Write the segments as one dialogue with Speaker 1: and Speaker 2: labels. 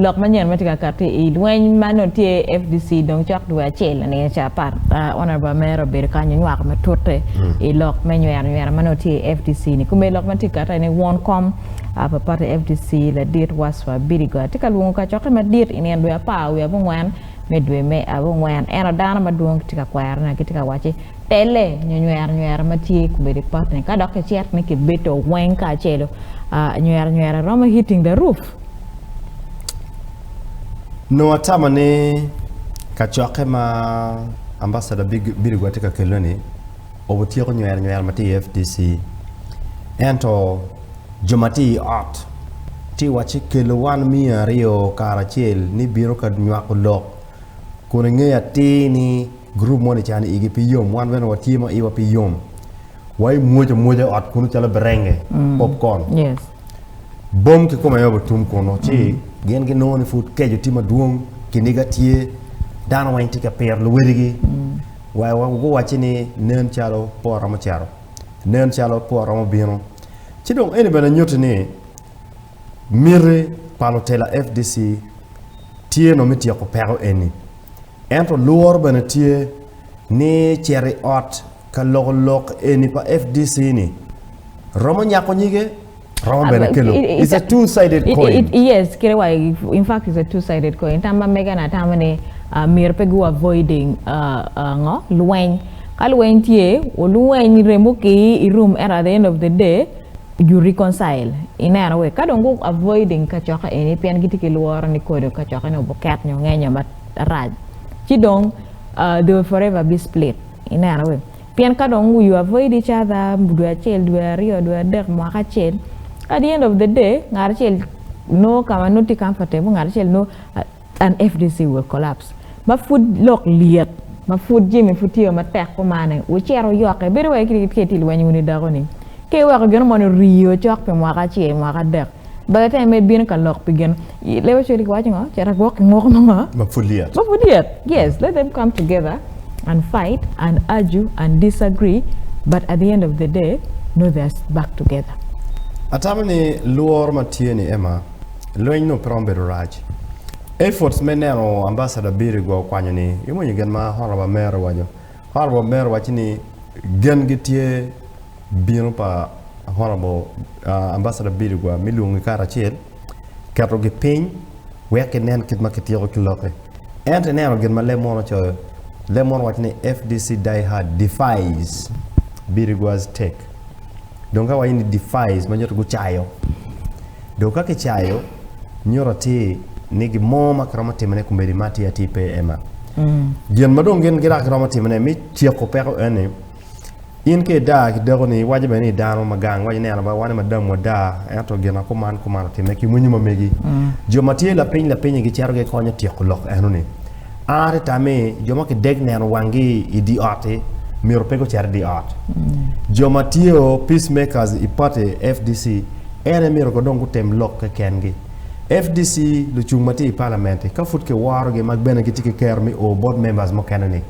Speaker 1: Lok manyen matye ka kati i lweny ma nongo tye i fdc dong cok dwe acel laninge ca apar. Honourable Amera obedo kany onywako matute i lok me nywero nywera manongo tye i fdc ni. Kome lok matye ka kati ene won kom pa party fdc ladit Waswa Bidigo tye ka lwongo kacokke madit i nino dwe apar wiye abongwen me dwe me abongwen. Eno dano madwong gitye ka kwero ne gitye ka wacci Pelle nyo nyweranywera ma tye kobedo i potne. Ka dok kicito ni kibedo weng kacelo, nyweranywera romo hitting the roof.
Speaker 2: Nongo atamo ni kacokke ma Ambassador Birigwa tye ka kelone-ni obutyeko nyweranywera ma tye i FDC. Ento jo ma tye i ot tye ka wacci kelo wan miya aryo kara acel ni bino ka nywako lok kun ingeyo atir ni Gurup moni ca ni igi pe yom, wan bene watye ma iwa pe yom. Wa imwoc amwoca i ot kunu calo berenge, popcorn.
Speaker 1: Bom
Speaker 2: kikome aye obutum kunu ci gin ginongo ni pud keco tye madwong, kiniga tye, dano weng tye ka piro luwedigi. Wa guwacci ni nen calo por romo cito, nen calo por romo bino. Ci dong eni bene nyutti ni miti pa lutela FDC tye nongo me tyeko peko eni. Ento lworo bene tye ni cito i ot ka loko lok eni pa FDC ni romo nyako nyige, romo bene kelo it's a two sided coin. Yes kite wa
Speaker 1: in fact it's a two sided coin tam ma mega ni atamo ni myero pe gu avoiding ngo lweny ka lweny tye olweny remo ki i room ento at the end of the day you reconcile i neno wek ka dong gu avoiding kacoka eni pien gitye ki lworo ni kodo kacoka eni obuket nyo ngenyo ma rac ci dong they will forever be split i neno weng pien ka dong we avoid each other dwe acel dwe aryo dwe adek mwaka acel at the end of the day ngat acel nongo ka ma nongo tye comfortable ngat acel nongo and fdc will collapse ma pud lok lyet ma pud jami pud tye wa matek kumane wucit wuyokke bedo wai ka itye ka lweny wunu i dako ni ka iweko gin moni rii o cok pi mwaka acel mwaka adek. Ba latene mere bino ka lok pi gin Lewi ocwalo waco ngo? Cito agwok ki ngwok mo ma pud lyet. Ma pud lyet.
Speaker 2: Yes, let
Speaker 1: them come together and fight and argue and disagree but at the end of the day no they are back together. Atamo ni
Speaker 2: lworo ma tye ni Emma, lweny nongo pe romo bedo rac. Efforts me neno Ambassador Biri gwa okwanyo ni, imwonyo gin ma Honorable Mayor owaco? Honorable Mayor waco ni gen gi tye. Bino pa Honorable Ambassador Biligwa me lwongi karacel, keto gi piny wek ginen kit ma kityeko ki lokke. Ento ineno gin ma leb mono ocoyo, leb mono owaco ni FDC die hard defies Biligwa's take. Dong ka waco ni defies ma nyuto gucayo. Dong ka kicayo nyuto atir ni gin mo ma kiromo timone kumedi ma atir atir pe ema. Gin ma dong gin gidok giromo timone me tyeko peko eni, In ka idaa ki dakoni, iwaco bene ni dano ma gang waco neno ba wane madam wadaa, ento gina kuman kuman otimme ki winyo ma megi. Jo ma tye lapiny lapinyi gicito gikonyo tyeko lok enoni. A te tamme, jo ma kideg neno wanggi i dye ot-ti myero pe gucit i dye ot. Jo ma tye o Peacemakers i pati FDC, en aye myero ko dong gutem lok kekengi. FDC lucung ma tye i palament-ti ka pud kiworogi ma bene gitye ki kero me o bot members mukene ni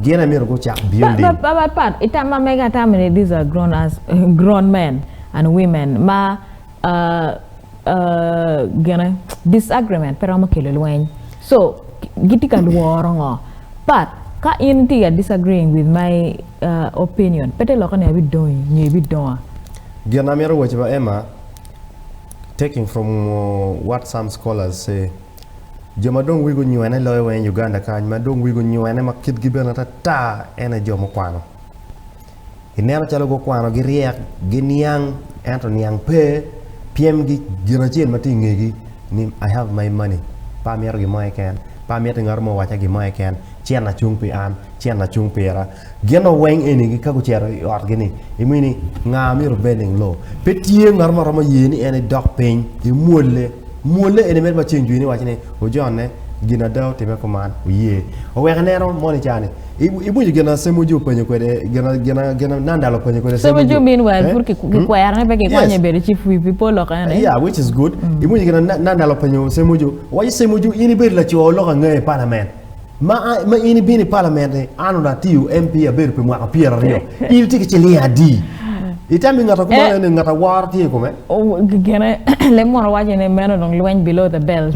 Speaker 2: gin aye myero gucak building. Pa pa pa pa itam
Speaker 1: ma mega atamo ni these are grown ass grown men and women ma ah ah gine disagreement pe romo kelo lweny so gitye ka lworo ngo but ka in itye ka disagreeing with my ah opinion pe te lokke ni abidongo inge bidonga. Gin amito
Speaker 2: waco pa Emma, Taking from what some scholars say, Jo ma dong wigi onywene loyo weng Uganda kany ma dong wigi onywene ma kitgi bene ata ata en aye jo mukwano. I neno calo gukwano giryek, giniang ento niang pe pyem gi gin acel ma tye ingegi ni I have my money, pe amito gin mo keken, pe amito ngat mo owaca gin mo keken, ci en acung pi an, ci en acung pira. Gin ma weng enigi ka gucito i otgi-ni, imiyo ni nga ma myero obed ling loo. Pe tye ngat ma romo ye ni en idok piny imwolle. Mwolle eni medo maceng jwini iwaci ni, Ojonne, gin ada otime kuman, oye. Owek ineno moni i caa-ni. Iwinyo gin ma Semuju openyo kwede, gin ma Nandal openyo kwede Semuju? Semuju meanwhile pud
Speaker 1: kikwero ni pe kikonye Yes. bedo chief whip pi pol lok ene. Yeah, which is good.
Speaker 2: Iwinyo gin ma Na- Nandal openyo Semuju? Owaco, Semuju, in ibedo laco lok angeyo i palament. Ma, ma in ibino i palament-ti, an onongo atiyo MP abedo pi mwaka pyera aryo, in itye ki ciling adi? Itamo i ngata kumalo eh. ni ngat aworo tye i kome?
Speaker 1: Gine, lem mono waco ni meno dong
Speaker 2: lweny
Speaker 1: below the belt.